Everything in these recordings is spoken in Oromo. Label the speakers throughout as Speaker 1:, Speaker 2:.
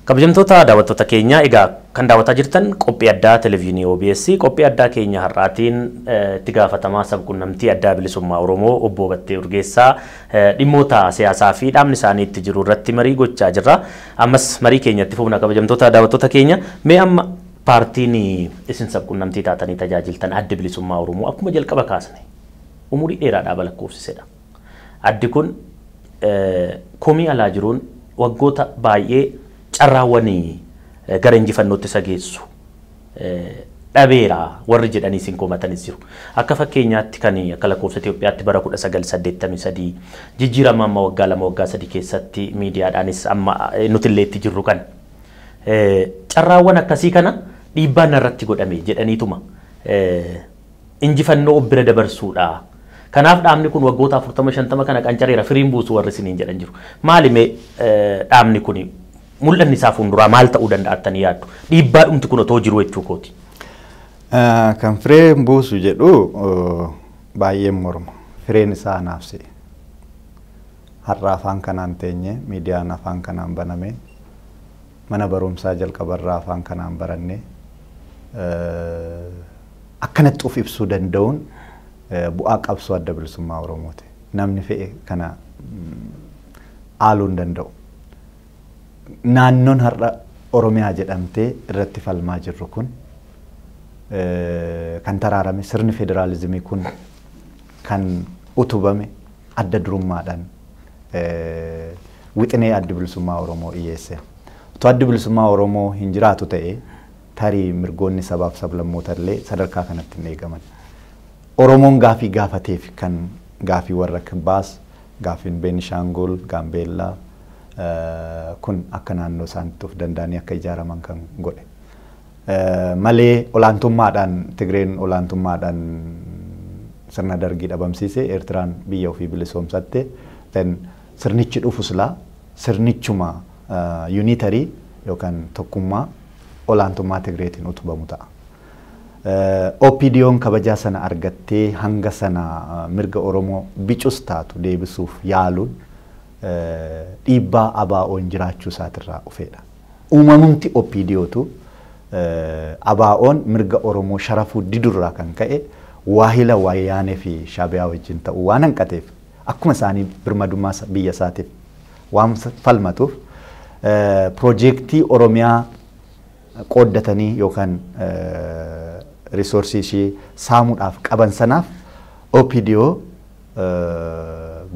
Speaker 1: Kabajamtoota daawwattoota keenyaa egaa kan daawwataa jirtan qophii addaa televezyiinii OBS qophii addaa keenya har'aatiin eh, itti gaafatamaa sabquunnamtii addaa bilisummaa Oromoo obbo Battee Urgeessaa eh, dhimmoota siyaasaa fi dhaabni isaanii itti jiru irratti marii gochaa jirra. Ammas marii keenya itti fufna kabajamtoota daawwattoota keenya mee amma paartiin isin sabqunnamtii taatanii tajaajiltan addi bilisummaa Oromoo akkuma jalqaba kaasne umurii dheeraadhaa balakkoofsisedha. Addi kun komii alaa jiruun waggoota baay'ee carraawwan gara injifannootti isa geessu dhabeera warri jedhaniis hin komatanis jiru. Akka fakkeenyaatti kan akka lakkoofsa Itoophiyaatti bara 1983 jijjiirama amma waggaa lama waggaa sadii keessatti miidiyaadhaanis amma nutillee itti jirru kan carraawwan akkasii kana dhiibbaan irratti godhame jedhaniituma injifannoo of bira dabarsuudha. Kanaaf dhaabni kun waggoota 40-50 kana qancareera firiin buusu warri isiniin jedhan jiru. Maali mee dhaabni kun Mul'anni isaa fuunduraa maal ta'uu danda'a jettanii yaaddu? Dhiibbaadhumti kun otoo jiruu jechuu kooti.
Speaker 2: Kan firee buusu jedhu baay'een morma. Fireen isaa anaaf si'i. Har'a afaan kanaan teenye, miidiyaan afaan kanaan baname, mana barumsaa jalqabarraa afaan kanaan baranne akkanatti of ibsuu danda'uun bu'aa qabsoo adda bilisummaa Oromooti. Namni fe'e kana haaluu hin danda'u. naannoon har'a Oromiyaa jedhamtee irratti falmaa jirru kun kan taraarame sirni federaalizimii kun kan utubame adda durummaadhaan wixinee addi bilisummaa Oromoo dhiyeesse. Utuu addi bilisummaa Oromoo hin jiraatu ta'e tarii mirgoonni sabaaf sablammoota illee sadarkaa kanatti hin eegaman. Oromoon gaafii gaafateef kan gaafii warra Kibbaas, gaafiin Beenishaangul, Gaambeellaa, kun akka naannoo isaanitti of danda'anii akka ijaaraman kan godhe. Malee olaantummaadhaan Tigreen olaantummaadhaan sirna dargii dhabamsiise Eertiraan biyya ofii bilisoomsatte then sirnichi dhufu silaa sirnichuma yuunitarii yookaan tokkummaa olaantummaa Tigreetiin utubamu ta'a. OPDOn kabajaa sana argattee hanga sana mirga Oromoo bicus taatu deebisuuf yaaluun dhiibbaa ABOn jiraachuu isaatirraa dhufeedha. Uumamumti OPDOtu ABOn mirga Oromoo sharafuu didurraa kan ka'e waahila Wayyaanee fi Shaabiyaa wajjin ta'uu waan hanqateef akkuma isaanii birmadummaa biyya isaatiif waan falmatuuf pirojeektii Oromiyaa qooddatanii yookaan risoorsii ishii saamuudhaaf qaban sanaaf OPDO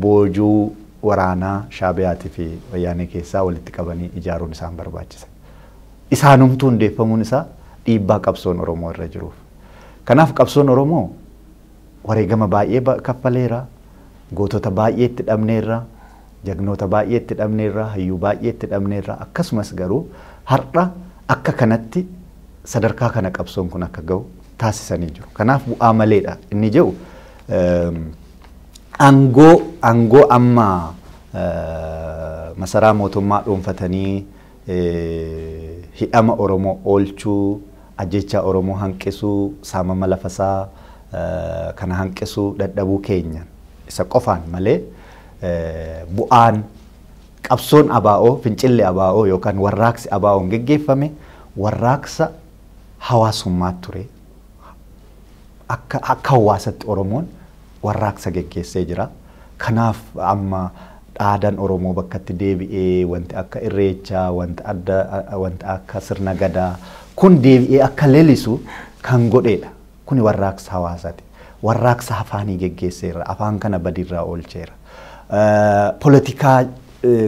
Speaker 2: boojuu waraanaa Shaabiyaatii fi Wayyaanee keessaa walitti qabanii ijaaruun isaan barbaachisa. Isaanumtuu hundeeffamuun isaa dhiibbaa qabsoon Oromoo irra jiruuf. Kanaaf qabsoon Oromoo wareegama baay'ee kaffaleera, gootota baay'ee itti dhabneerra, jagnoota baay'ee itti dhabneerra, hayyuu baay'ee itti dhabneerra, akkasumas garuu har'a akka kanatti sadarkaa kana qabsoon kun akka ga'u taasisanii jiru. Kanaaf bu'aa maleedha inni jedhu Aangoo aangoo amma masaraa mootummaa dhuunfatanii hidhama Oromoo oolchuu, ajjeechaa Oromoo hanqisuu, saamama lafasaa kana hanqisuu dadhabuu keenya isa qofaan malee bu'aan qabsoon ABO, fincilli ABO yookaan warraaqsi ABO'n geggeeffame warraaqsa hawaasummaa ture. akka akka hawaasatti Oromoon warraaqsa geggeessee jira. Kanaaf amma dhaadan Oromoo bakkatti deebi'ee wanti akka irreechaa, wanta adda wanta akka sirna gadaa kun deebi'ee akka lelisu kan godheedha. Kuni warraaqsa hawaasati. Warraaqsa afaanii geggeesseerra. Afaan kana badiirraa oolcheera. Polotikaa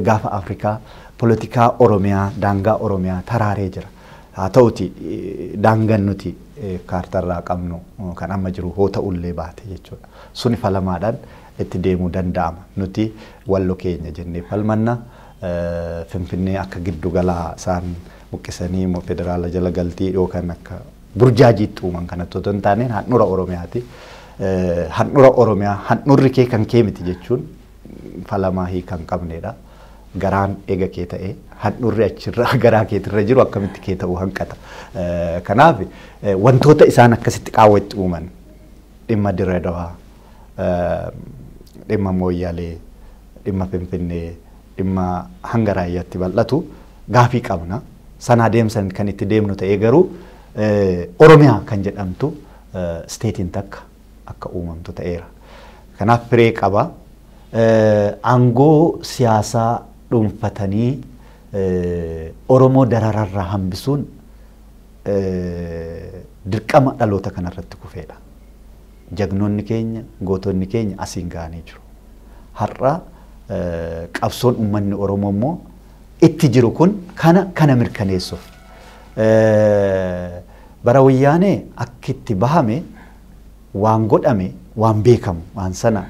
Speaker 2: gaafa Afrikaa, polotikaa Oromiyaa, daangaa Oromiyaa taraaree jira. Haa ta'uti daangan nuti kaartarraa qabnu kan amma jiru hoo ta'ullee baate jechuudha. Suni falamaadhaan itti deemuu danda'ama. Nuti wallo keenya jennee falmanna. Finfinnee akka giddu galaa isaan buqqisanii immoo federaala jala galtii yookaan akka burjaajiitti uuman kanatti otoo hin taaneen handhura Oromiyaati. Handhura Oromiyaa handhurri kee kan kee miti jechuun falamaa hiika hin qabneedha. Garaan eega kee ta'ee handhuurri achirra garaa keetirra jiru akkamitti kee ta'uu hanqata. Kanaaf wantoota isaan akkasitti qaawwa itti uuman dhimma Dirree Dawaa, dhimma Mooyyalee, dhimma Finfinnee, dhimma hanga raayyaatti bal'atu gaafii qabna. Sana adeemsan kan itti deemnu ta'ee garuu Oromiyaa kan jedhamtu isteetiin takka akka uumamtu ta'eera. Kanaaf firee qaba. Aangoo siyaasaa dhuunfatanii Oromoo darararraa hambisuun dirqama dhaloota kanarratti kufeedha. Jagnoonni keenya, gootonni keenya asiin ga'anii jiru. Har'a qabsoon uummanni Oromoo immoo itti jiru kun kana kana mirkaneessuuf bara wayyaanee akka itti bahame waan godhame waan beekamu waan sana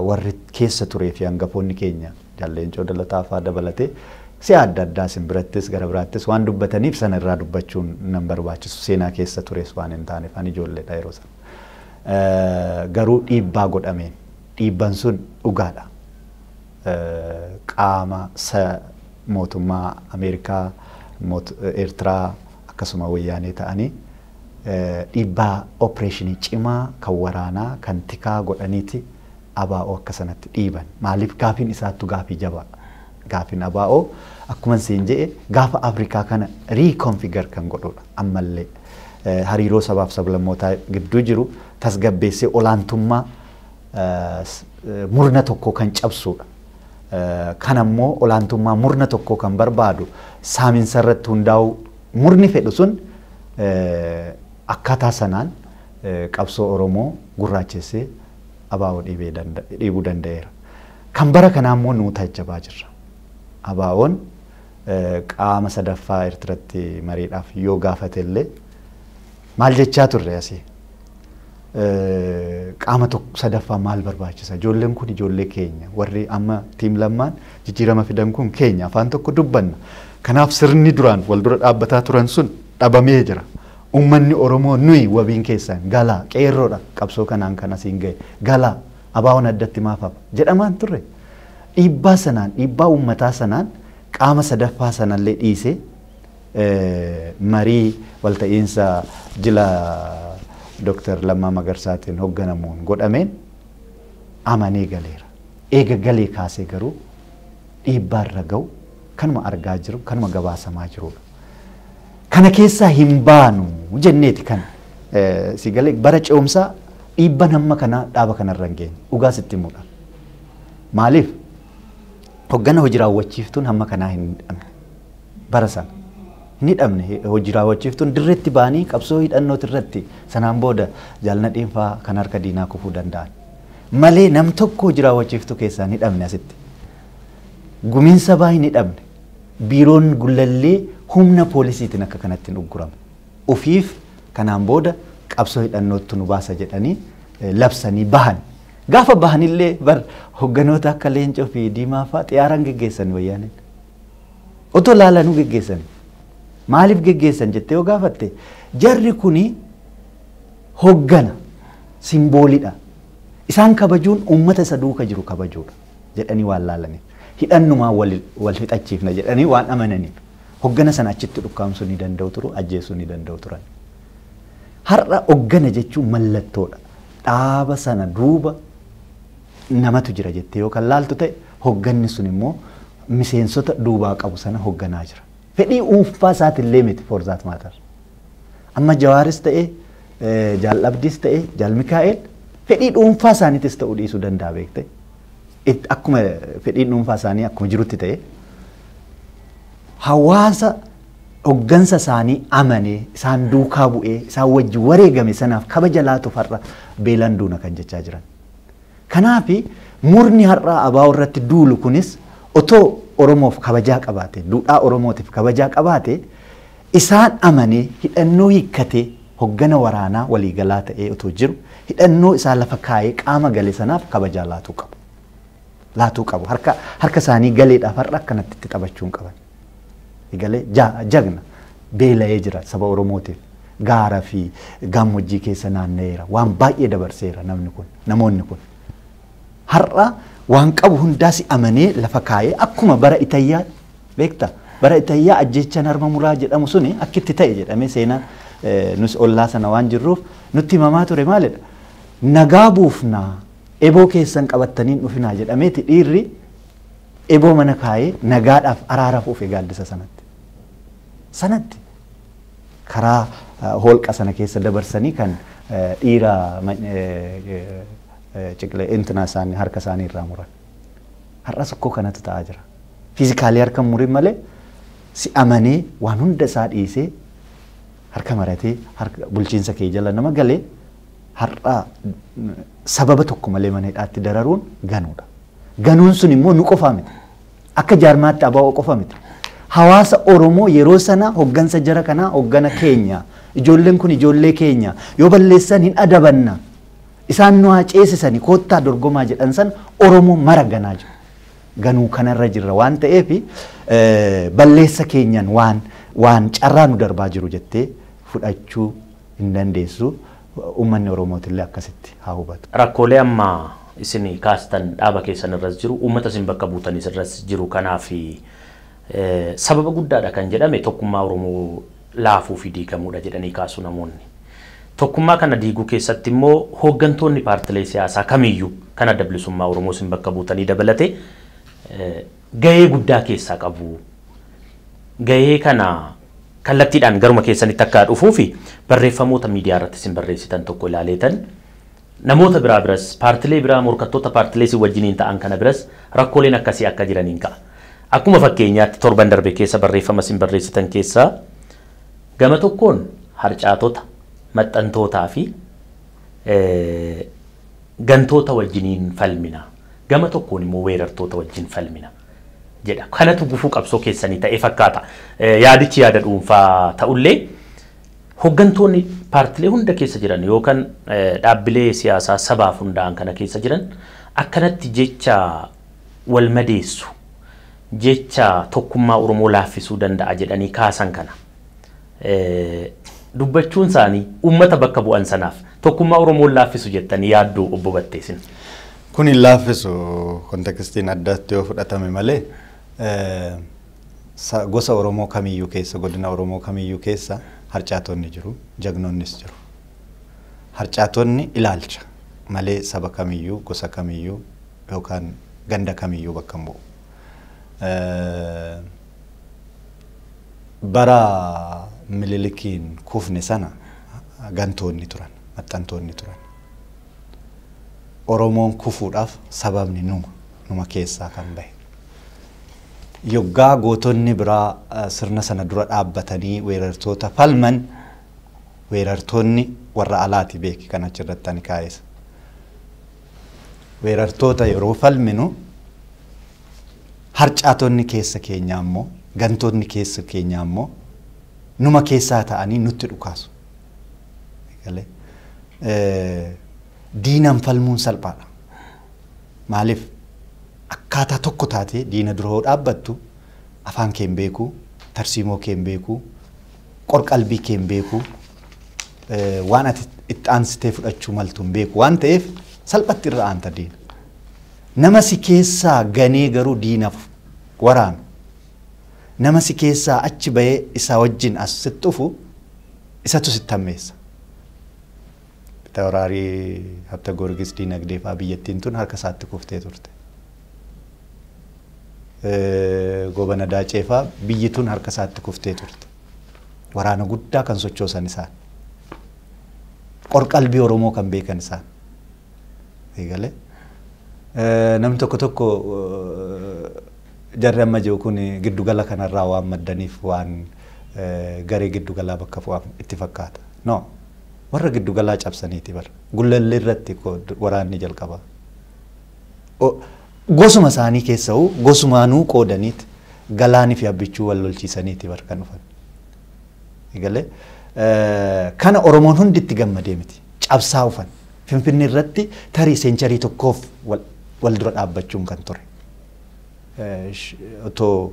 Speaker 2: warri keessa turee fi hangafoonni keenya jalleencoo dalataa faa dabalatee si'a adda addaa isin birattis gara biraattis waan dubbataniif sana irraa dubbachuun nan barbaachisu seenaa keessa tures waan hin taaneef ani ijoolleedha yeroo sana. Garuu dhiibbaa godhameen dhiibban sun dhugaadha. qaama sa mootummaa Ameerikaa, moot, Eertiraa akkasuma Wayyaanee ta'anii dhiibbaa opereeshinii cimaa kan waraanaa, kan tikaa godhaniiti ABO akka sanatti dhiiban. Maaliif gaafiin isaattu gaafii jabaa. Gaafiin ABO akkuman siin je'e gaafa Afrikaa kana reconfigure kan godhuudha ammallee. Hariiroo sabaaf sablammootaa gidduu jiru tasgabbeessee olaantummaa murna tokkoo kan cabsuudha. Kan ammoo olaantummaa murna tokkoo kan barbaadu saaminsa irratti hundaa'uu murni fedhu sun akkaataa sanaan qabsoo Oromoo gurraachessee abaa'oo dhiibuu danda'eera. Kan bara kanaa immoo nuu taajjabaa jirra. Abaa'oon qaama sadaffaa Eertiratti mariidhaaf yoo gaafate illee Maal jechaa turre asii? Qaama tokko sadaffaa maal barbaachisa? Ijoolleen kun ijoollee keenya. Warri amma tiim lammaan jijjiirama fidan kun keenya. Afaan tokko dubbanna. Kanaaf sirni duraan wal dura dhaabbataa turan sun dhabamee jira. Uummanni Oromoo nuyi wabiin keessan galaa qeerroodha qabsoo kanaan kan asiin gahe galaa abaawoon addatti maaf hafa jedhamaan turre. Dhiibbaa sanaan dhiibbaa uummataa sanaan qaama sadaffaa sanallee dhiisee marii walta'iinsa jila Dr. Lammaa Magarsaatiin hogganamuun godhameen amanee galeera. Eega galee kaasee garuu dhiibbaa irra ga'u kanuma argaa jiru, kanuma gabaasamaa jirudha. Kana keessaa hin baanu jenneeti kan si galee bara ce'umsaa dhiibban hamma kanaa dhaaba kanarra hin geenye. Dhugaa sitti himuudhaan. Maaliif? Hoggana hojii raawwachiiftuun hamma kanaa hin hidhamne. bara sana hin hidhamne hojii raawwachiiftuun dirreetti ba'anii qabsoo hidhannooti irratti sanaan booda jaal Nadhiin faa kan harka diinaa kufuu danda'an malee nam tokko hojii raawwachiiftuu keessaa hin hidhamne asitti gumiin sabaa hin hidhamne biiroon gullallee humna poolisiitiin akka kanatti hin ugguramu ofiif kanaan booda qabsoo hidhannoottu nu baasa jedhanii eh, labsanii bahan gaafa bahanillee bar hogganoota akka leencoo fi diimaa faa xiyyaaraan geggeessan wayyaaneen Otoo laalanuu geggeessanii. Maaliif geggeessan jettee yoo gaafatte jarri kuni hoggana simboolidha. Isaan kabajuun uummata isa duuka jiru kabajuudha jedhanii waan laalaniif. Hidhannumaan wal, wal hidhachiifna jedhanii waan amananiif. Hoggana sana achitti dhukkaamsuu ni danda'u turu, ajjeesuu ni danda'u turan. Har'a hoggana jechuun mallattoodha. Dhaaba sana duuba namatu jira jettee yoo kan laaltu ta'e hogganni sun immoo miseensota duubaa qabu sana hogganaa jira. Fedhii dhuunfaa isaatillee miti for that matter. Amma Jawaaris ta'e Jaal Abdiis ta'e Jaal Mikaa'el fedhii dhuunfaa isaaniitis ta'uu dhiisuu danda'a beekte. Akkuma fedhii dhuunfaa isaanii akkuma jirutti ta'e hawaasa hoggansa isaanii amanee isaan duukaa bu'ee isaan wajji wareegame sanaaf kabaja laatuuf har'a beelaan duuna kan jechaa jiran. Kanaaf murni har'aa ABO irratti duulu kunis otoo Oromoof kabajaa qabaatee, duudhaa Oromootiif kabajaa qabaatee isaan amanee hidhannoo hiikkatee hoggana waraanaa waliigalaa ta'ee otoo jiru hidhannoo isaa lafa kaayee qaama gale sanaaf kabajaa laatuu qabu. Laatuu qabu. Harka harka isaanii galeedhaaf har'a akkanatti itti taphachuu hin qaban. Egalee jagna beela'ee jira saba Oromootiif gaara fi gaammoojjii keessa naanna'eera waan baay'ee dabarseera namni kun namoonni kun. Har'a waan qabu hundaas amanee lafa kaa'ee akkuma bara Itayyaa beekta bara Itayyaa ajjeechaan harma muraa jedhamu suni akkitti ta'e jedhamee seenaan nus ollaa sana waan jirruuf nutti himamaa ture maalidha. Nagaa buufnaa eboo keessan qabattaniin dhufinaa jedhameeti dhiirri Eboo mana kaayee nagaadhaaf araaraaf ufe gaaddisa sanatti. Sanatti. Karaa hoolqa sana keessa dabarsanii kan dhiira ciqilee intina isaanii harka isaanii irraa muran. Har'as akkoo kanatu ta'aa jira. Fiizikaalii harka hin murin malee si amanee waan hunda isaa dhiisee harka maratee bulchiinsa kee jala nama galee har'a sababa tokko malee mana hidhaatti dararuun ganuudha. Ganuun sun immoo nu qofaa miti. Akka jaarmaatti abaa'oo qofa miti. Hawaasa Oromoo yeroo sana hoggansa jara kanaa hoggana keenya. Ijoolleen kun ijoollee keenya. Yoo balleessan hin adabanna. Isaan nu haa ceesisani koottaa dorgomaa jedhan san Oromoo mara ganaa jiru. Ganuu kanarra jirra waan ta'eef balleessa keenyan waan waan carraa nu darbaa jiru jettee fudhachuu hin dandeessu. Uummanni Oromootillee akkasitti haa hubatu. Rakkoolee amma
Speaker 1: isin kaastan dhaaba keessan irras jiru, uummata isin bakka buutanis irras jiru kanaaf sababa guddaadha kan jedhame tokkummaa Oromoo laafuu fi diigamuudha jedhanii kaasu namoonni. Tokkummaa kana diiguu keessatti immoo hooggantoonni paartilee siyaasaa kamiiyyuu kan Adda Bilisummaa Oromoo isin bakka buutanii dabalatee gahee guddaa keessaa qabu. Gahee kana kallattiidhaan garuma keessanitti akka dhufuufi barreeffamoota miidiyaa irratti isin barreessitan tokko ilaaleetan namoota biraa biras paartilee biraa morkattoota paartilee isin wajjiniin ta'an kana biras rakkooleen akkasii akka jiraniin ka'a. Akkuma fakkeenyaatti torban darbe keessa barreeffama isin barreessitan keessaa gama tokkoon harcaatota, maxxantootaa fi gantoota wajjiniin falmina. Gama tokkoon immoo weerartoota wajjin falmina. jedha. Kanatu gufuu qabsoo keessanii ta'ee fakkaata. Yaadichi yaada dhuunfaa ta'ullee hoggantoonni paartilee hunda keessa jiran yookaan dhaabbilee siyaasaa sabaaf hundaa'an kana keessa jiran akkanatti jecha wal madeessu jecha tokkummaa Oromoo laaffisuu danda'a jedhanii kaasan kana dubbachuun isaanii uummata bakka bu'an sanaaf tokkummaa Oromoo hin laaffisu jettanii yaadduu obbo Battee isin? Kun hin
Speaker 2: laaffisu kontekistiin addaatti yoo fudhatame malee gosa Oromoo kamiyyuu keessa godina Oromoo kamiyyuu keessa harcaatonni jiru jagnoonnis jiru. Harcaatonni ilaalcha malee saba kamiyyuu gosa kamiyyuu yookaan ganda kamiyyuu bakka hin bu'u. Bara Mililikiin kufne sana gantoonni turan, maxxantoonni turan. Oromoon kufuudhaaf sababni numa, numa keessaa kan bahe. Yoggaa gootonni biraa sirna sana dura dhaabbatanii weerartoota falman, weerartoonni warra alaati beeki kan achirratti ani kaa'es. Weerartoota yeroo falminu Harcaatonni keessa keenyaa immoo, gantootni keessa keenyaa immoo numa keessaa ta'anii nutti dhukaasu. Eegalee. Eh, Diinaan falmuun salphaadha. Maaliif? Akkaataa tokko taatee diina dura yoo dhaabbattu afaan kee hin beeku, tarsiimoo kee hin beeku, qorqalbii kee hin beeku, eh, waan ati itti aansitee fudhachuu maltu hin beeku waan ta'eef salphatti irra aanta diina. Nama si keessaa ganee garuu diinaf waraanu, nama si keessaa achi ba'ee isaa wajjin as sitti dhufu isatu sitti hammeessa. Fitawraarii Habta Goorgis diinagdee fa'aa biyyattiin tun harka isaatti kuftee turte. Goobana Daacee fa'aa biyyi tun harka isaatti kuftee turte. Waraana guddaa kan sochoosan isaan. Qorqalbii Oromoo kan beekan isaan. eegale. Namni tokko tokko jarri amma jiru kun giddugala kanarraa waan maddaniif waan garee giddugalaa bakka bu'an itti fakkaata. No. Warra giddugalaa cabsaniiti bar. Gullallee irratti waraanni jalqaba. Gosuma isaanii keessa'uu gosumaanuu qoodaniit galaanii fi abbichuu wal lolchiisaniiti bar kan dhufan. Eegalee. Kana Oromoon hundi itti gammadee miti. Cabsaa ufan. Finfinnee irratti tarii seencharii tokkoof wal dura dhaabbachuun kan ture. Otoo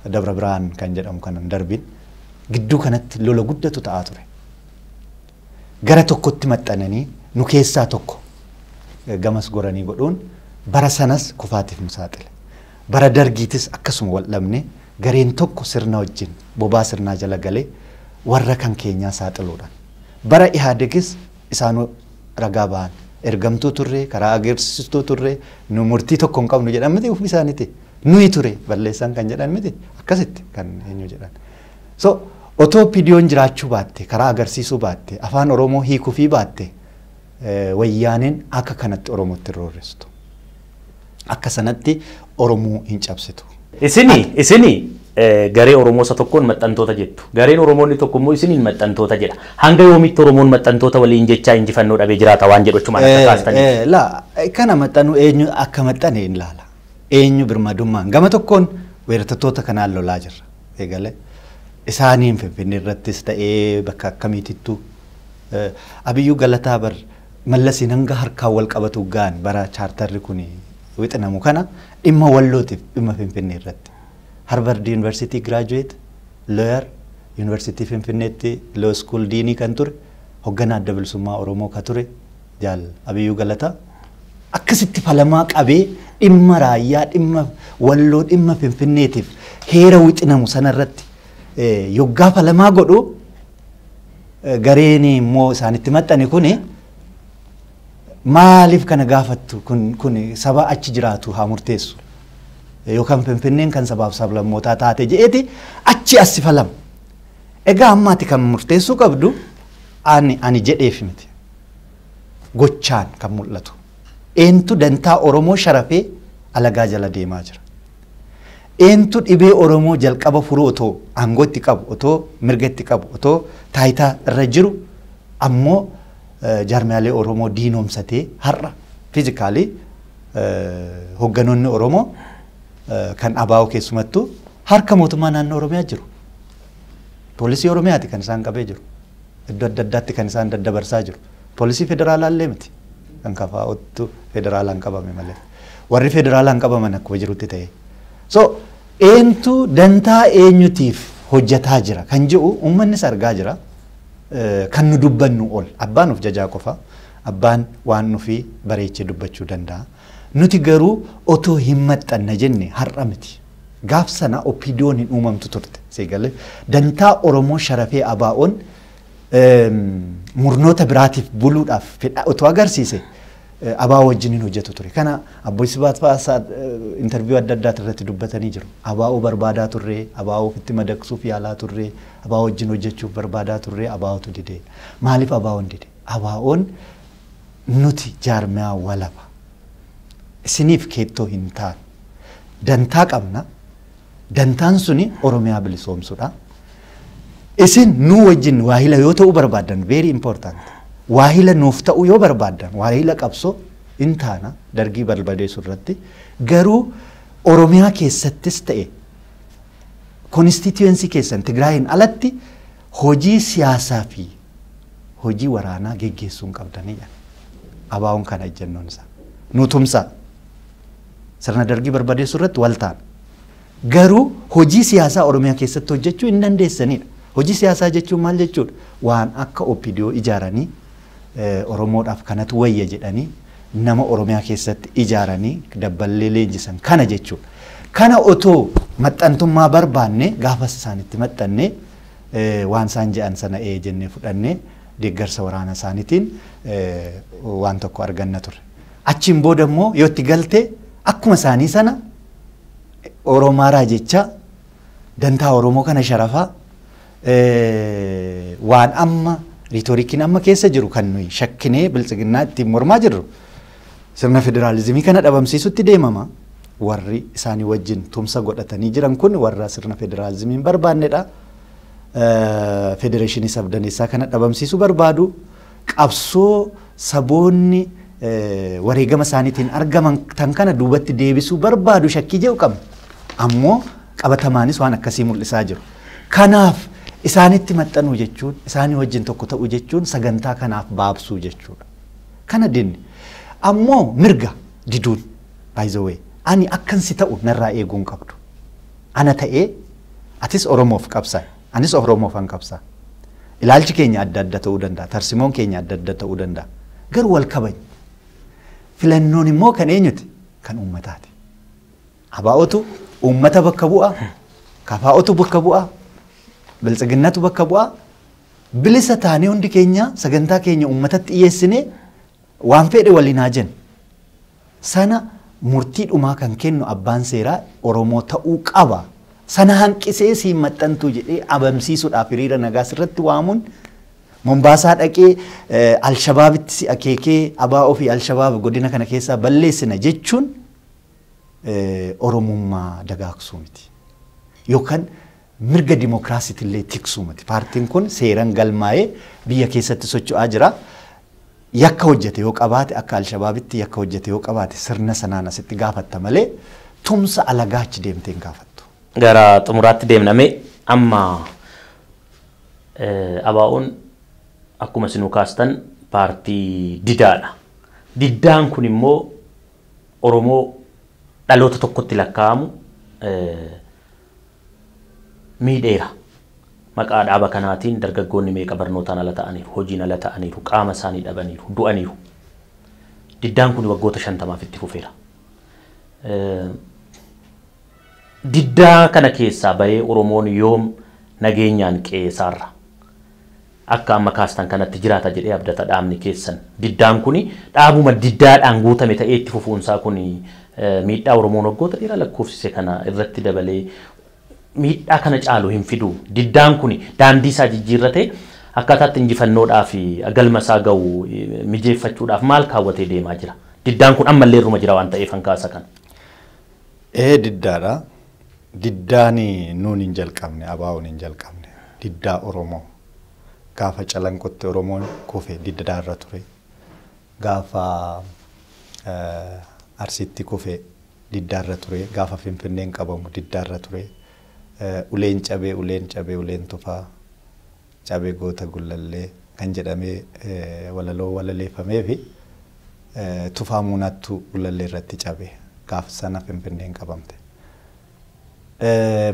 Speaker 2: Dabra Birhaan kan jedhamu kan hin darbin gidduu kanatti lola guddatu ta'aa ture. Gara tokkotti maxxananii nu keessaa tokko gamas goranii godhuun bara sanas kufaatiif nu saaxile. Bara dargiitis akkasuma wal dhabne gareen tokko sirna wajjin bobaa sirnaa jala galee warra kan keenyaa saaxiluudhaan. Bara Ihaadegis isaanu ragaa bahan. Ergamtuu turre, karaa ageersistuu turre, nu murtii tokko hin qabnu jedhan miti ofii isaaniiti. Nuyi ture balleessan kan jedhan miti akkasitti kan eenyu jedhan. So otoo pidiyoon jiraachuu baatte, karaa agarsiisuu baatte, afaan Oromoo hiikufii baatte wayyaaneen akka kanatti Oromootti hin roorristu. Akka sanatti Oromoo hin cabsitu. Isini, isini
Speaker 1: eh, garee Oromoo isa tokkoon maxxantoota jettu. Gareen Oromoo inni tokko immoo isiniin maxxantoota jedha. Hanga yoomiitti Oromoon maxxantoota waliin jechaa injifannoo dhabee jiraata waan jedhu achumaan akka Eh, kaastaniif. eh, la eh, kana
Speaker 2: maxxanu eenyu akka maxxane hin laala eenyu birmadummaan gama tokkoon weerartoota kanaan lolaa jirra eegale isaaniin finfinnee irrattis ta'ee bakka akkamiitittu eh, abiyyuu galataa bar Mallasiin hanga harkaan wal qabatu gahan bara chaartarri kun wixinamu kana dhimma Wallootiif dhimma Finfinnee irratti Harvard Yuunivarsiitii Giraajuweeti, Looyar, Yuunivarsiitii Finfinneetti Loo Iskuul Diinii kan ture, hogganaa Adda Bilisummaa Oromoo ka ture Jaal Abiyyuu Galataa akkasitti falamaa qabee dhimma Raayyaa, dhimma Walloo, dhimma Finfinneetiif heera wixinamu sana irratti yoggaa falamaa godhu, gareen immoo isaanitti maxxane kun maaliif kana gaafattu kun kun saba achi jiraatu haa murteessu yookaan finfinneen kan sabaaf sablammootaa taate je'eeti achi as sifalam egaa ammaati kan murteessuu qabdu ani ani jedheef miti gochaan kan mul'atu eentu dantaa oromoo sharafee alagaa jala deemaa jira. Eentu dhibee Oromoo jalqaba furu otoo aangoo itti qabu, otoo mirga itti qabu, otoo taayitaa irra jiru ammoo jaarmiyaalee Oromoo diinoomsatee har'a physically hogganoonni Oromoo kan ABO keessumattuu harka mootummaa naannoo Oromiyaa jiru. Poolisii Oromiyaati kan isaan qabee jiru. Iddoo adda addaatti kan isaan daddabarsaa jiru. Poolisii federaalaallee miti. Kan KFO'ttu federaalaan qabame malee. Warri federaalaan qabaman akkuma jirutti ta'ee. So eentu dantaa eenyutiif hojjetaa jira kan jiru uummannis argaa jira. Eh, Kan nu dubbannu ol. Abbaan of jajaa qofa. Abbaan waan nufi bareechee dubbachuu danda'a. Nuti garuu otoo hin maxxanna jenne har'a miti. Gaaf sana OPDOn hin uumamtu turte. Seegalee dantaa Oromoo sharafee ABOn murnoota biraatiif buluudhaaf fedha otoo agarsiise ABO wajjin hin hojjetu ture. Kana Abboo Sibaat fa'aa interviyuu adda addaati irratti dubbatanii jiru. ABO barbaadaa turre, ABO ofitti madaqsuuf yaalaa turre, ABO wajjin hojjechuuf barbaadaa turre, ABOtu dide. Maaliif ABOn dide? ABOn Nuti jaarmiyaa walaba. Isiniif keettoo hin taanu. Dantaa qabna. Dantaan suni Oromiyaa bilisoomsudha. Isin nuu wajjin waahila yoo ta'uu barbaaddan, very important, waahila nuuf ta'uu yoo barbaaddan, waahila qabsoo hin taana Dargii barbadeesuu irratti. Garuu Oromiyaa keessattis ta'e constituency keessan Tigraayiin alatti hojii siyaasaa fi hojii waraanaa geggeessuu hin qabdanii jedha. ABOn kana ejjennoon isaa. Nu tumsaa. Sirna dargii barbadeessuu irratti wal taana. Garuu hojii siyaasaa Oromiyaa keessatti hojjechuu hin dandeessanidha. Hojii siyaasaa jechuun maal jechuudha? Waan akka OPDO ijaaranii Oromoodhaaf kanatu wayya jedhanii nama Oromiyaa keessatti ijaaranii dabballee leenjisan kana jechuudha. Kana otoo maxxantummaa barbaanne gaafas isaanitti maxxanne waan isaan jedhan sana ee jennee fudhanne deeggarsa waraana isaaniitiin waan tokko arganna ture. Achiin booda immoo yoo itti galte akkuma isaanii sana Oromaaraa jecha dantaa Oromoo kana sharafaa waan amma riitorikiin amma keessa jiru kan nuyi shakkinee biltsiginnaa ittiin mormaa jirru sirna federaalizimii kana dhabamsiisutti deemama. Warri isaanii wajjin tumsa godhatanii jiran kun warra sirna federaalizimii hin barbaannedha. Federeeshinii sabdaneessaa kana dhabamsiisuu barbaadu. qabsoo saboonni wareegama isaaniitiin argaman tan kana duubatti deebisuu barbaadu shakkii jedhu qabna. Ammoo qabatamaanis waan akkasii mul'isaa jiru. Kanaaf isaanitti maxxanuu jechuun isaanii wajjin tokko ta'uu jechuun sagantaa kanaaf baabsuu jechuudha. Kana dinni. Ammoo mirga diduun by the way ani akkan si ta'u narraa eeguu hin qabdu. Ana ta'ee atis Oromoof qabsaa'i. Anis Oromofan qabsaa. Ilaalchi keenya adda adda ta'uu danda'a. Tarsimoon keenya adda adda ta'uu danda'a. Garuu wal kabajna. Filannoon immoo kan eenyuti? Kan uummataati. Abaa'otu uummata bakka bu'a. Kafaa'otu bakka bu'a. Biltsiginnatu bakka bu'a. Bilisa taanee hundi keenya sagantaa keenya uummatatti dhiyeessinee waan fedhe waliin haa jennu. sana murtii dhumaa kan kennu abbaan seeraa Oromoo ta'uu qaba. Sana hanqisee siin maxxantuu jedhee abamsiisuudhaaf hiriira nagaa sirratti waamuun Mombaasaa dhaqee Alshabaabitti si akeekee ABO fi Alshabaab godina kana keessaa balleessina jechuun Oromummaa dagaagsuu miti. Yookaan Mirga dimookiraasitillee tiksuu miti. Paartiin kun seeran galmaa'ee biyya keessatti socho'aa jira. Yakka hojjete yoo qabaate akka Alshabaabitti yakka hojjete yoo qabaate sirna sanaan asitti gaafatta malee tumsa alagaa achi deemtee hin gaafattu. Gara xumuraatti
Speaker 1: deemna mee amma ABOn akkuma isinuu kaastan paartii didaadha. Diddaan kun immoo Oromoo dhaloota tokkotti lakkaa'amu miidheera. Maqaa dhaaba kanaatiin dargaggoonni meeqa barnootaan ala ta'aniiru, hojiin ala ta'aniiru, qaama isaanii dhabaniiru, du'aniiru. Diddaan kuni waggoota 50f itti fufeera. Diddaa kana keessaa bahee Oromoon yoom nageenyaan qe'ee isaarra Akka amma kaastan kanatti jiraata jedhee abdata dhaabni keessan. Diddaan kuni dhaabuma diddaadhaan guutame ta'ee itti fufuunsaa kuni miidhaa Oromoon waggoota dheeraa lakkoofsise kana irratti dabalee miidhaa kana caalu hin fiduu? Diddaan kuni daandiisaa jijjiirratee akkaataa itti injifannoodhaaf galmasaa ga'u mijeeffachuudhaaf maal kaawwatee deemaa jira? Diddaan kun ammallee irruma jira waan ta'eefan kaasa kana. Ee
Speaker 2: diddaadha. Diddaani nuun hin jalqabne, ABOn hin jalqabne. Diddaa Oromoo. Gaafa Calanqotti Oromoon kufe diddaarra ture. Gaafa Arsiitti kufe diddaarra ture. Gaafa Finfinneen qabamu diddaarra ture. Uleen cabee, uleen cabee, uleen tufaa. Cabe Goota Gullallee kan jedhamee walaloo walaleeffameefi Tufaa Muunaattu Gullallee irratti cabe. Gaaf sana Finfinneen qabamte.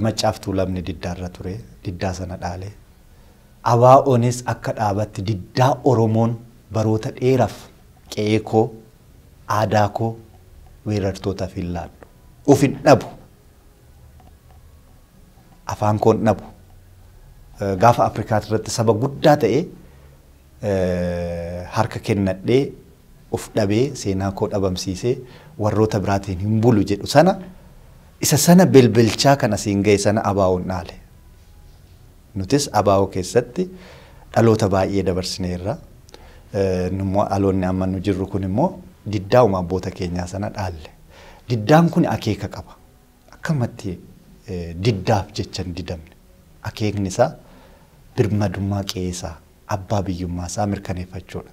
Speaker 2: Maccaaf Tuulamni diddaarra ture. Diddaa sana dhaale. ABOnis akka dhaabatti diddaa Oromoon baroota dheeraf qe'ee koo, aadaa koo weerartootaf hin laadhu, of hin dhabu! afaan koon dhabu gaafa Afrikaa irratti saba guddaa ta'e harka kennadhee of dhabee seenaa koo dhabamsiisee warroota biraatiin hin bulu jedhu sana isa sana belbelchaa kan asiin ga'e sana abaawoon dhaale. Nutis abaawoo keessatti dhaloota baay'ee dabarsineerra. Nummoo dhaloonni amma nu jirru kun immoo diddaa uma abboota keenyaa sana dhaalle. Diddaan kun akeeka qaba. Akkamatti diddaaf jecha hin didamne? Akeekni isaa birmadummaa qe'ee isaa, abbaa biyyummaa isaa mirkaneeffachuu dha.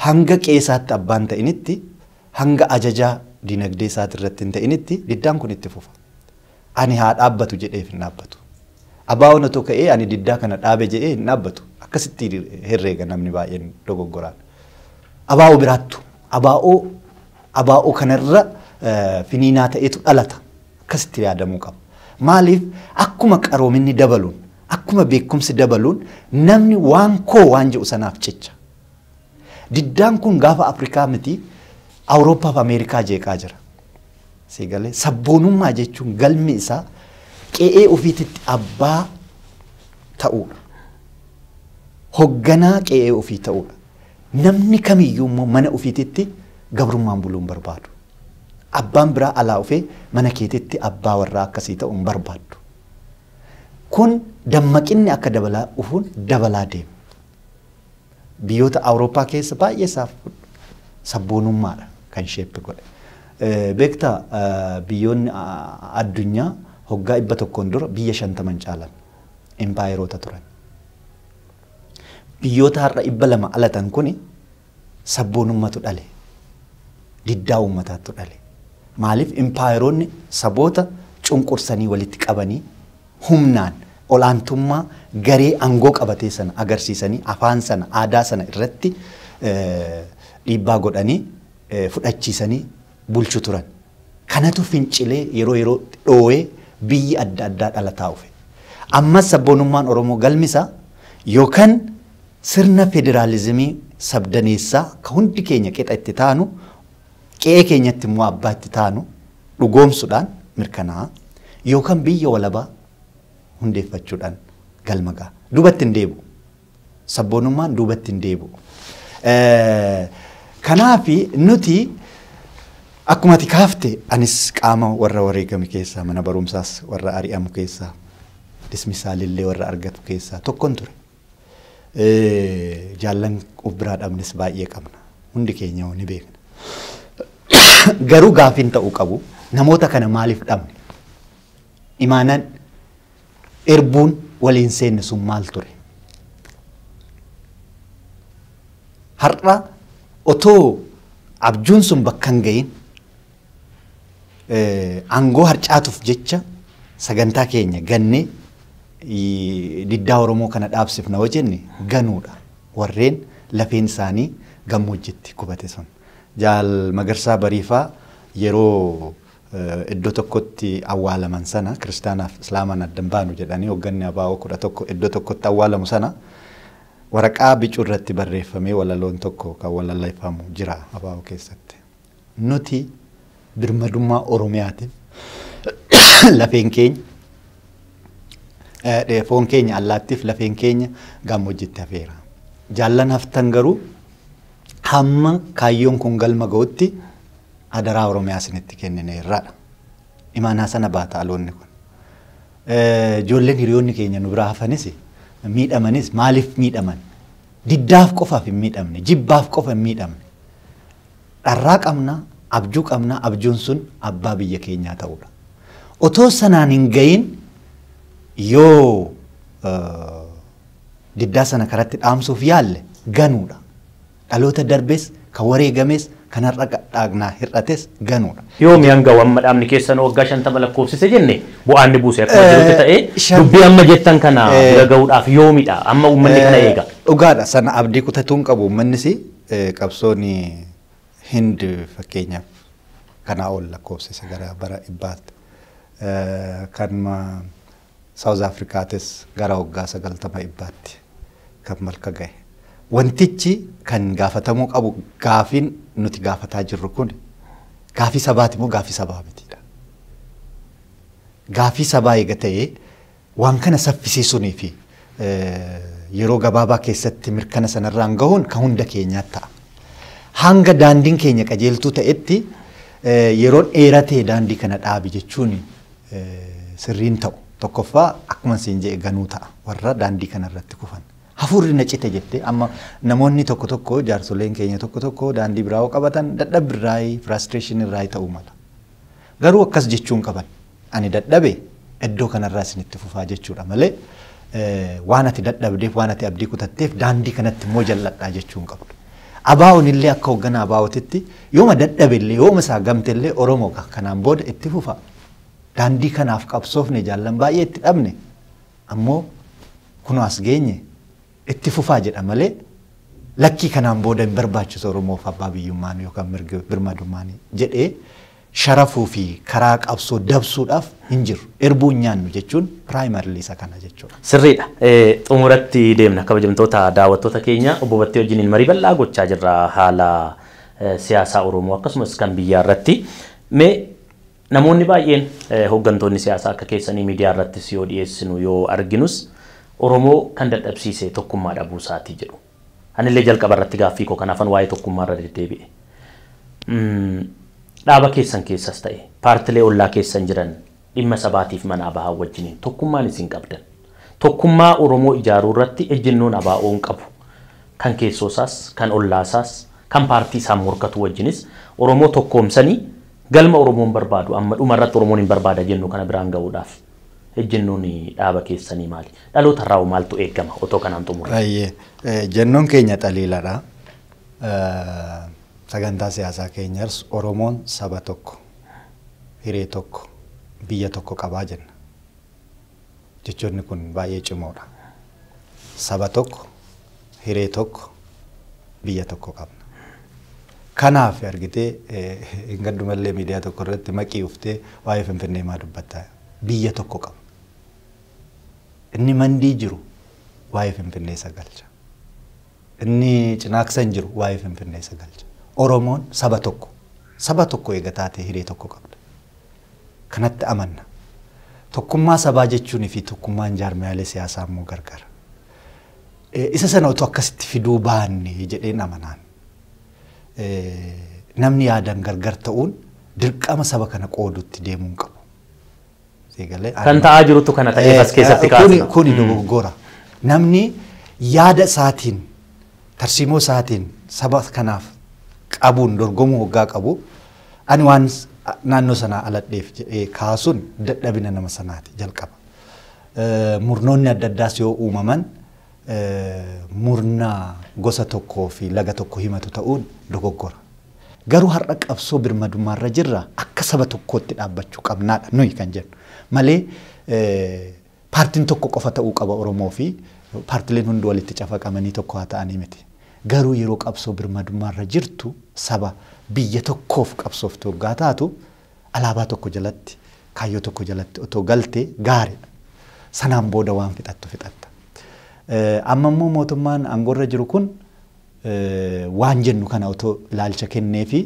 Speaker 2: Hanga qe'ee isaatti abbaa hin ta'initti, hanga ajajaa dinagdee isaati irratti hin ta'initti diddaan kun itti fufa. Ani haa dhaabbatu jedheef hin dhaabbatu. ABOn otoo ka'ee ani diddaa kana dhaabe jedhee hin dhaabbatu. Akkasitti herreega namni baay'een dogoggoraan. Abo biraattu. Abo abaa'oo kana irra finiinaa ta'etu dhalata. Akkasitti yaadamuu qaba. Maaliif akkuma qaroominni dabaluun, akkuma beekumsi dabaluun namni waan koo waan jedhu sanaaf cicha. Diddaan kun gaafa Afrikaa miti Awurooppaa fi Ameerikaa jeeqaa jira. Siigalee sabboonummaa jechuun galmi isaa qe'ee ofiititti abbaa ta'uudha. Hogganaa qe'ee ofii ta'uudha. Namni kamiyyuu immoo mana ufiititti gabrummaan buluu hin barbaadu. Abbaan biraa alaa ufee mana keetitti abbaa warraa akka sii ta'u hin barbaaddu. Kun dammaqinni akka dabalaa dhufuun dabalaa deema. Biyyoota Awurooppaa keessa baay'ee isaa sabboonummaadha kan sheeppi godhe. Beektaa biyyoonni addunyaa hoggaa dhibba tokkoon dura biyya shantama hin caalan. Impaayeroota turan. Biyyoota har'a dhibba lama alatan kuni sabboonummatu dhale. Diddaa uummataattu dhale. Maaliif impaayeroonni saboota cunqursanii walitti qabanii humnaan olaantummaa garee aangoo qabatee sana agarsiisanii afaan sana aadaa sana irratti dhiibbaa godhanii fudhachiisanii bulchu turan. Kanatu fincilee yeroo yerootti dhoo'ee biyyi adda addaa dhalataa ufe. Ammas sabboonummaan Oromoo galmi isaa yookan sirna federaalizimii sabdaneessaa ka hundi keenya qixa itti taanu, qe'ee keenyatti immoo abbaa itti taanu dhugoomsudhaan mirkanaa'a yookan biyya walabaa hundeeffachuudhaan galma ga'a. Duubatti hin deebi'u. Sabboonummaan duubatti hin deebi'u. Kanaaf nuti akkuma ati kaafte anis qaama warra wareegame keessaa mana barumsaas warra ari'amu keessaa dismisaalillee warra argatu keessaa tokkon ture. Jaallan of biraa dhabnes baay'ee qabna. Hundi keenya ni beekna. Garuu gaaffiin ta'uu qabu namoota kana maaliif dhabne? Imaanaan Irbuun wal hin seenne sun maal ture? Har'a otoo abjuun sun bakka hin ga'iin aangoo harcaatuuf jecha sagantaa keenya gannee diddaa Oromoo kana dhaabsifna yoo jenne ganuudha. Warreen lafeen isaanii gammoojjitti gubate sun. Jaal Magarsaa Bariifaa yeroo iddoo tokkotti awwaalaman sana kiristaanaaf islaamaan adda hin baanu jedhanii hogganni ABO 11 iddoo tokkotti awwaalamu sana waraqaa bicuu irratti barreeffamee walaloon tokko kan walaleeffamu jira ABO keessatti. Nuti birmadummaa Oromiyaatiif lafeen keenya eh, foon keenya allaattiif lafeen keenya gammoojjitti hafeera. Jaallan haftan garuu hamma kaayyoon kun galma ga'utti Adaraa Oromiyaa isinitti kennineerra dha. Imaanaa sana baata dhaloonni kun. Ijoolleen hiriyoonni keenya nu biraa hafanis miidhamanis maaliif miidhaman? Diddaaf qofaaf hin miidhamne, jibbaaf qofa hin miidhamne. Dharraa qabna, abjuu qabna, abjuun sun abbaa biyya keenyaa ta'uudha. Otoo sanaan hin ga'iin yoo diddaa sana karatti dhaamsuuf yaalle ganuudha. Dhaloota darbes, kan wareegames, kan har'a dhaagnaa hir'ates ganuudha. Yoomii hanga amma
Speaker 1: dhaabni keessan waggaa 50 lakkoofsise jenne bu'aa inni buuse akkuma jirutti ta'ee, dubbii amma jettan kana bira gahuudhaaf yoomidha? Amma uummanni kana eega. Dhugaadha. Sana abdii
Speaker 2: kutatuu hin qabu uummannis. Qabsoon Hind fakkeenyaaf kanaa ol lakkoofsise gara bara dhibbaatti. Kanuma South Africaatis gara waggaa 90 ebbaatti kan malka gahe. Wantichi kan gaafatamuu qabu gaafiin nuti gaafataa jirru kun gaafii sabaati moo gaafii sabaa mitiidha? Gaafii sabaa eega ta'ee waan kana saffisiisuunii fi yeroo gabaabaa keessatti mirkana sanarraan gahuun kan hunda keenyaa ta'a. Hanga daandiin keenya qajeeltuu ta'etti yeroon dheeratee daandii kana dhaabi jechuun sirrii hin ta'u. Tokkoffaa akkuman siin jedhe ganuu ta'a warra daandii kanarratti kufan. Hafuurri na cite jettee amma namoonni tokko tokko jaarsoleen keenya tokko tokko daandii biraa yoo qabatan dadhabbi irraayi firaastireeshinii irraayi ta'uu mala. Garuu akkas jechuu hin qaban. Ani dadhabe iddoo kanarraa isinitti fufaa jechuudha malee waan ati dadhabdeef waan ati abdii kutatteef daandii kanatti immoo jal'adhaa jechuu hin qabdu. Abaa'oon illee akka hoggana abaa'ootitti Yooma dadhabe illee, yooma isaa gamte illee Oromoo egaa kanaan booda itti fufa. Daandii kanaaf qabsoofne jaallan baay'ee itti dhabne. Ammoo kunoo as geenye itti fufaa jedha malee lakkii kanaan booda hin barbaachisu Oromoof abbaa biyyummaan yookaan mirgi birmadummaan jedhee sharafuu fi karaa qabsoo dabsuudhaaf hin jiru. Irbuu hin nyaannu jechuun primarily isa kana jechuudha. Sirriidha.
Speaker 1: Xumuratti deemna. Kabajamtoota daawwattoota keenya obbo Battee wajjiniin marii bal'aa gochaa jirra haala siyaasaa Oromoo akkasumas kan biyyaa irratti mee namoonni baay'een hooggantoonni siyaasaa akka keessanii miidiyaa irrattis yoo dhiyeessinu yoo arginus Oromoo kan dadhabsiise tokkummaa dhabuu isaatii jedhu. Anillee jalqaba irratti gaaffii koo kanaafan waa'ee tokkummaa irra deddeebi'e. Dhaaba keessan keessas ta'e paartilee ollaa keessan jiran Dhimma sabaatiif mana abo wajjiniin tokkummaan isin qabdan, tokkummaa Oromoo ijaaruu irratti ejjennoon ABOn qabu, kan keessoo isaas, kan ollaa isaas, kan paartii isaan morkatuu wajjinis Oromoo tokkoomsanii galma Oromoon barbaadu amma dhuma irratti Oromoon hin barbaada jennu kana biraan gahuudhaaf ejjennoon dhaaba keessanii maali? Dhaloota irraa hoo maaltu eegama otoo kanaan xumurree? Baay'ee. Ejjennoon
Speaker 2: keenya xaliiladha. Sagantaa siyaasaa keenyars Oromoon saba tokko. hiree tokko, biyya tokko qaba jenna. Jechoonni kun baay'ee cimoodha. Saba tokko, hiree tokko, biyya tokko qabna. Kanaaf argitee hin gaddumallee miidiyaa tokko irratti maqii uftee waa'ee Finfinnee maa dubbatta? Biyya tokko qabna. Inni mandii jiru waa'ee Finfinnee isa galcha. Inni cinaaksa hin jiru waa'ee Finfinnee isa galcha. Oromoon saba tokko. Saba tokko eega taatee hiree tokko qabda. Kanatti amanna. Tokkummaa sabaa jechuun fi tokkummaan jaarmiyaalee siyaasaa immoo gargar. Isa sana otoo akkasitti fiduu baanne jedheen amanaan. Namni yaadan gargar ta'uun dirqama saba kana qoodutti deemuu hin qabu. Sii galee
Speaker 1: Kan ani- ta'aa jirutu kana ta'ee Eh, as keessatti eh, kuni- kaasna. Kuni Mm. dogoggora.
Speaker 2: Namni yaada isaatiin tarsiimoo isaatiin saba kanaaf qabuun dorgomuu hoggaa qabu ani waan s- a- naannoo sanaa aladheef jedhee kaasuun dadhabina nama sanaati jalqaba. Eh, Murnoonni adda addaas yoo uumaman murna gosa tokkoo fi laga tokko himatu ta'uun dogoggora. Garuu har'a qabsoo birmadummaa irra jirra akka saba tokkootti dhaabbachuu qabnaa dha nuyi kan jennu. Malee paartiin tokko qofa ta'uu qaba Oromoo fi paartileen hundi walitti cafaqamanii tokko haa ta'anii miti. Garuu yeroo qabsoo birmadummaa irra jirtu saba biyya tokkoof qabsooftu hoggaa taatu Alaabaa tokko jalatti, kaayyoo tokko jalatti otoo galte gaariidha. Sanaan booda waan fixattu fixatta. Amma immoo mootummaan aangoorra jiru kun waan jennu kana otoo ilaalcha kenneefi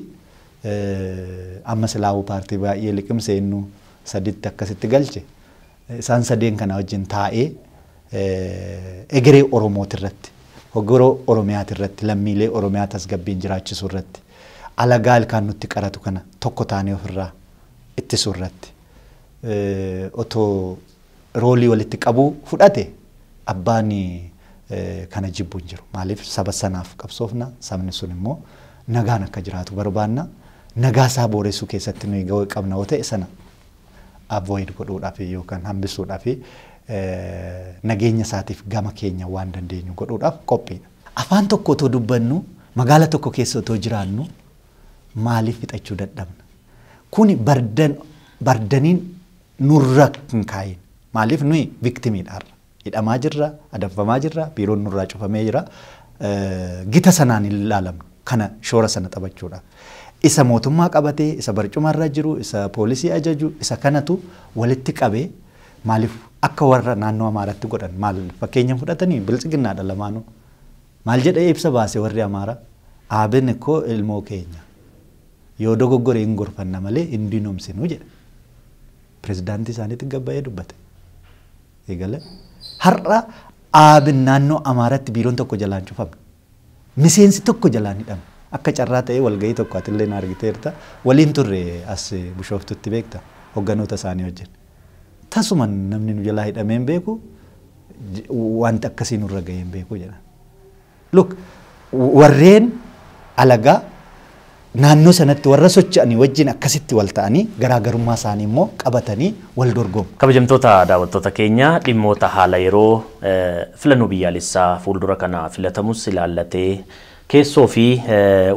Speaker 2: amma silaahuu paartii baay'ee liqimse innu saditti akkasitti galche Isaan sadeen kana wajjin taa'ee egeree Oromootirratti, egeree Oromiyaatirratti, lammiilee Oromiyaa tasgabbiin jiraachisuurratti, alagaa ilkaan nutti qaratu kana tokko taanee ofirraa ittisuurratti otoo roolii walitti qabuu fudhate abbaan kana jibbu hin jiru. Maaliif saba sanaaf qabsoofna, sabni sun immoo nagaan akka jiraatu barbaanna. Nagaa isaa booressuu keessatti nuyi gahee qabna yoo ta'e sana avoid godhuudhafi yookan hambisuudhafi nageenya isaatiif gama keenya waan dandeenyu godhuudhaaf qophiidha. Afaan tokko otoo dubbannu, magaala tokko keessa otoo jiraannu maaliif fixachuu dadhabna? Kuni bardan bardaniin nurra hin kaa'iin. Maaliif nuyi victim dha har'a. Hidhamaa jirra, adamfamaa jirra, biiroon nurraa cufamee jira. Gita sanaan hin ilaalamnu. Kana shoora sana taphachuudha. Isa mootummaa qabatee, isa barcumarra jiru, isa poolisii ajaju, isa kanatu walitti qabee maaliif akka warra naannoo Amaaratti godhan maal fakkeenya fudhatanii biltsiginnaadha lamaanuu. Maal jedhee ibsa baase warri Amaara? Aabin ikko ilmoo keenya. Yoo dogoggore hin gorfanna malee hin diinomsinu jedhe. Pirezidaantii isaaniitti gabbayee dubbate. eegale. Har'a ABn naannoo Amaaraatti biiroon tokko jalaan cufame. Miseensi tokko jalaan hidhame. Akka carraa ta'ee walgahii tokko atilleen argiteerta. Waliin turre as Bushooftutti beekta hogganoota isaanii wajjin. Tasuma namni nu jalaa hidhamee hin beeku, wanti akkasii nurra gahee hin beeku jedhan. Look, warreen alagaa naannoo sanatti warra socho'anii wajjin akkasitti wal ta'anii garaa garummaa isaanii immoo qabatanii wal dorgomu. Kabajamtoota daawwattoota
Speaker 1: keenya, dhimmoota haala yeroo, filannoo biyyaalessaa fuuldura kana filatamus ilaallatee, keessoo fi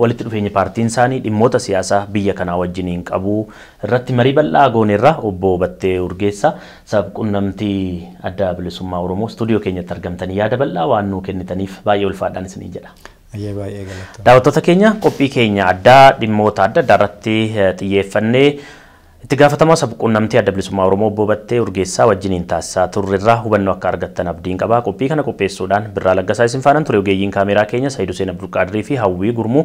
Speaker 1: walitti dhufeenyi paartiin isaanii dhimmoota siyaasa biyya kanaa wajjiniin qabu, irratti marii bal'aa gooneerra. Obbo Battee Urgeessaa, Sab-qunnamtii Adda Bilisummaa Oromoo, studio keenyatti argamtanii yaada bal'aa waan nuu kennitaniif baay'ee ulfaadhaan isiniin jedha. Hayyee baay'ee galatoomi. Daawwattoota keenya, qophii keenya addaa dhimmoota adda addaa irratti xiyyeeffanne Itti gaafatamaa Sab-qunnamtii Adda Bilisummaa Oromoo Obbo Battee Urgeessaa wajjiniin taasisaa turre irraa hubannoo akka argattan abdiin qaba. Qophii kana qopheessuudhaan Birraa Laggasaa isin faanan ture. Ogeeyyiin kaameeraa keenya Sa'id Huseen Abdulqaadirii fi Hawwii Gurmuu.